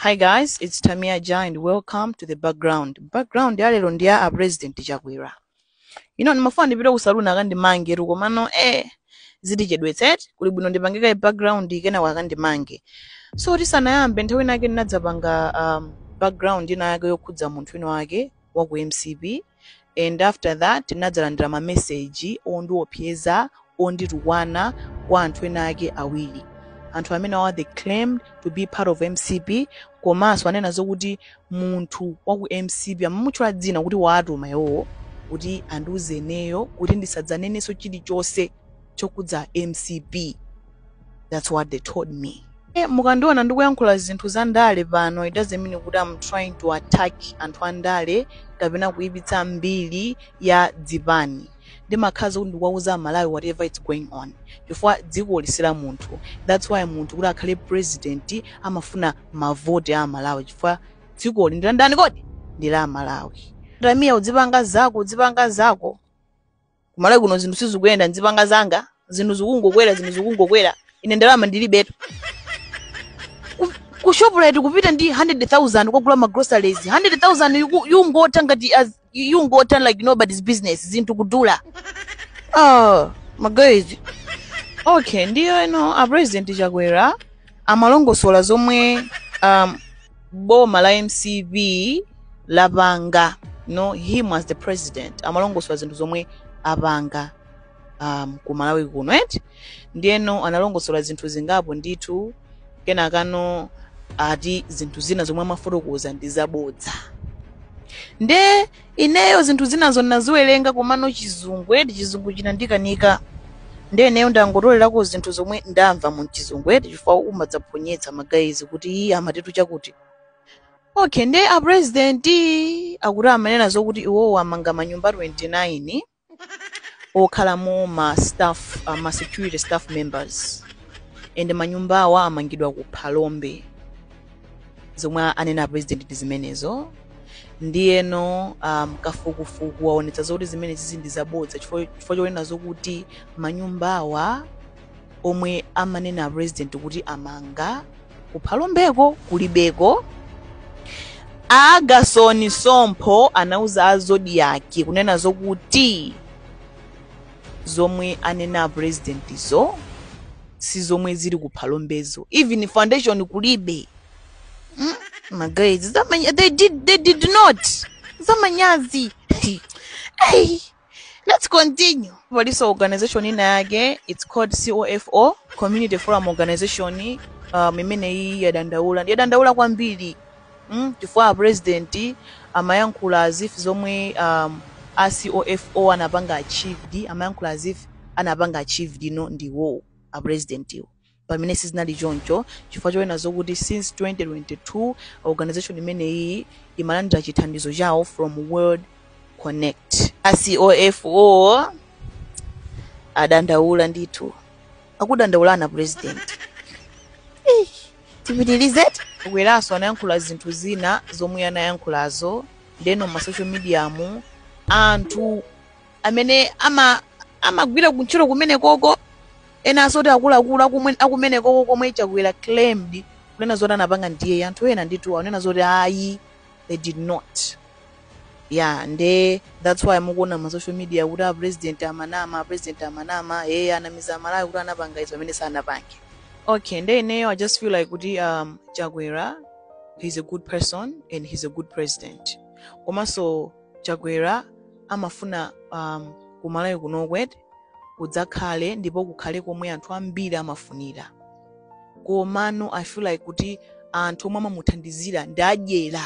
Hi guys, it's Tamia Ja and welcome to the background. Background ya lero ndi ya a president Chakwera. You know, ndimafuna ndipite ku saloon akandimangetu komano eh zitichedwetsa eti kuli bwino ndipange kaye background kena wakandimange. So tisanayambe nthawi ina yake ndinadzapanga um, background ina yake yokhudza munthu wina wake wa ku MCP and after that nadzalandira mameseji ondiopseza onditukwana kwa anthu ena ake awiri anthu amene awa they claimed to be part of mcp komanso anena zokuti munthu wa ku mcp amamutchula dzina kuti waatuma iwowo kuti andiuzeneyo kuti ndisadzanenenso chilichonse chokhudza mcp that's what they told me e, eh, mukandiona ndikuyankhula zinthu za ndale pano it doesn't mean kuti am trying to attack anthu a ndale kapena kuyipitsa mbiri ya dzipani ndimakhala kuti ndikuwauza amalawi whatever is going on chifukwa dzikoli si la munthu that's why munthu kuti akhale president amafuna mavoti amalawi chifukwa dzikoli ndi la ndani kodi ndi la amalawi tamia udzipanga zako udzipanga zako kumalawi kuno zinthu sizikuyenda nzipanga zanga zinthu zikungokwera zinthu zikungokwera ine ndalama ndilibetu Ku- ku shoprite kupita ndi 100000 kukagula ma groceries 100000 yuku- yongotha ngati as- yongotha like nobody's business zinthu kudula ah maguys okay ndiyo eno a president chakwera amalongosola zomwe um, boma la mcp lapanga no him as the president amalongosola zinthu zomwe apanga um, ku malawi kuno eti ndiyeno analongosola zinthu zingapo ndithu kenakano ati zinthu zina zomwe amafotokoza ndi zabodza nde ineyo zinthu zinazo ndinaziwerenga komano chizungu eti chizungu chinandikanika ndiye ineyo ndangotolerako zinthu zomwe ndamva mu chizungu eti chifukwa umadzaphonyetsa maguys kuti iye amatitu chakuti okay ndiye a president akuti amanena zokuti iwowo amanga manyumba 29 okhalamo ma staff uh, ma security staff members and manyumba awa amangidwa ku phalombe zomwe anena a president ndi zimenezo ndiyeno um, kafukufuku waonetsa zoti zimenezizi ndi zabodza chifukwa chifukwa chonena zokuti manyumba awa omwe amanena a president kuti amanga ku phalombeko kulibeko a agasoni sompho anauza a zodiaki kunena zokuti zomwe anena a presidentzo si zomwe zili ku phalombezo even foundation kulibe mm? maguys zamanya- they did, they did not zamanyazi hey. Let's continue. Palinso organization ina yake it's called COFO Community Forum Organization um, imene iyi yadandaula yadandaula kwambiri mm, chifukwa a president amayankhula as if zomwe um, a COFO anapanga achieved amayankhula as if anapanga achieved ndi iwo a president iwo pamene sizinali choncho chifukwa chonena zokuti since 2022 organization imeneyi imalandira chithandizo chawo from world connect a COFO adandaula ndithu akudandaula ndi a president Eh, tipitilize Chakweranso anayankhula zinthu zina zomwe anayankhulazo ndeno ma social media mu anthu amene ama amagwira kuntchito kumenekoko enanso oti akuluakulu akumenekoko komwe chakwera claimed kunena zoti anapanga ndiye anthu ena ndithu akunena zoti ayi they did not ya nde that's why mukuona ma social media kuti a president amanama a president amanama eye anamiza amalawi kuti anapanga izo pamene sanapange okay nde ineyo i just feel like kuti um, chakwera he's a good person and he's a good president komanso Chakwera amafuna um, kumalawi kunoko kudzakhale ndipo kukhale komwe anthu ambiri amafunira komano i feel like kuti anthu omwe amamuthandizira ndi adyera